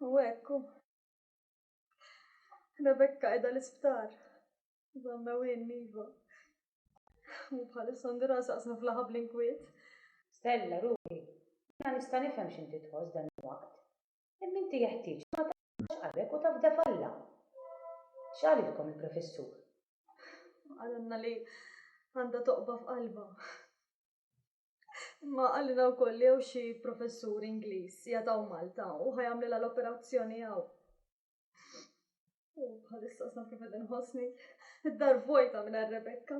U ekku. Rebekka edha l-isptar. Zamma u jenniva. U bħal Sandra saqsa flaħa bl-inkwiet. Stella, ruħi, jiena nista' nifhem x'inti tħoss dan il-waqt. Imma inti jeħtieġ li ma taqtax qalbek u tafda f'Alla. X'qalilkom il-professur? Qalilna li għandha toqba f'qalbha. Imma qalilna wkoll li hawn xi professur Ingliż qiegħed hawn Malta u ħa jagħmlilha l-operazzjoni hawn. U bħalissa sa kif qed inħossni, id-dar vojta mingħajr Rebekka.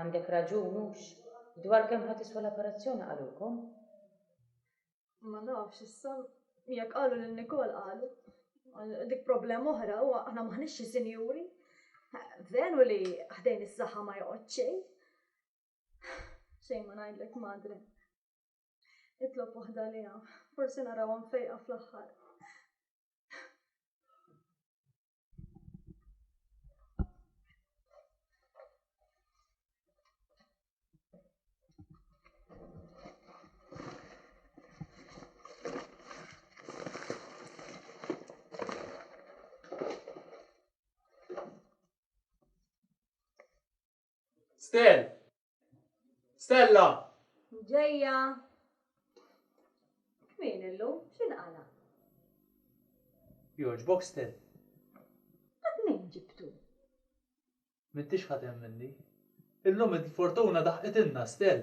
Għandek raġun hux. Dwar kemm ħa tiswa l-operazzjoni qalulkom? Ma nafx issa, jekk qalu lil Nikol qalu. Dik problema oħra u aħna maħniex xi sinjuri. Veru li ħdejn is-saħħa ma joqgħod xejn. Xejn ma ngħidlek madre. Itlob waħda liha, forsi narawha mfejqa fl-aħħar. Stel. Stella. Ġejja. Min illum? X'inqala? Jogħġbok Stel. Dak min ġibtu? M'intix ħadd hemm minni. Illum il-fortuna daħqitilna Stel.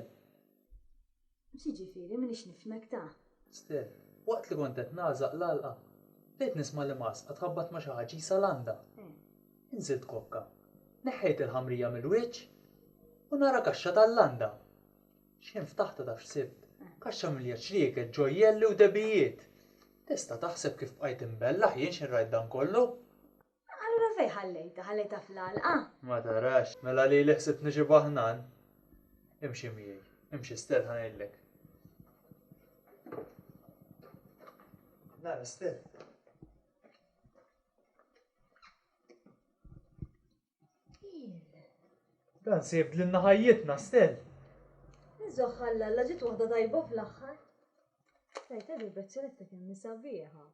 X'jiġifieri m'iniex nifhmek ta? Steph, Waqt li kont qed nagħżaq l-għalqa, bdejt nisma' li maska tħabbat ma' xi ħaġa qisha landa. Inżilt kokka, neħħejt il-ħamrija mill-wiċċ u nara kaxxa tal-landa. X'ħin ftaħtha taf x'sibt? Kaxxa mimlija ċrieket, ġojjelli u dehbijiet! Tista' taħseb kif bqajt imbellah jien x'inrajt dan kollu? Allura fejn ħallejtha? Ħallejtha fl-għalqa? Ma tarax? Mela lili ħsibt niġibha ħnan? Imxi miegħi. Imxi Stell ħa ngħidlek. Nara Stell. Dan se jibdlilna ħajjitna, Stel. Iżoħħalla, la ġiet waħda tajba fl-aħħar. Tajta vibrazzjoni ta' kemm sabiħa.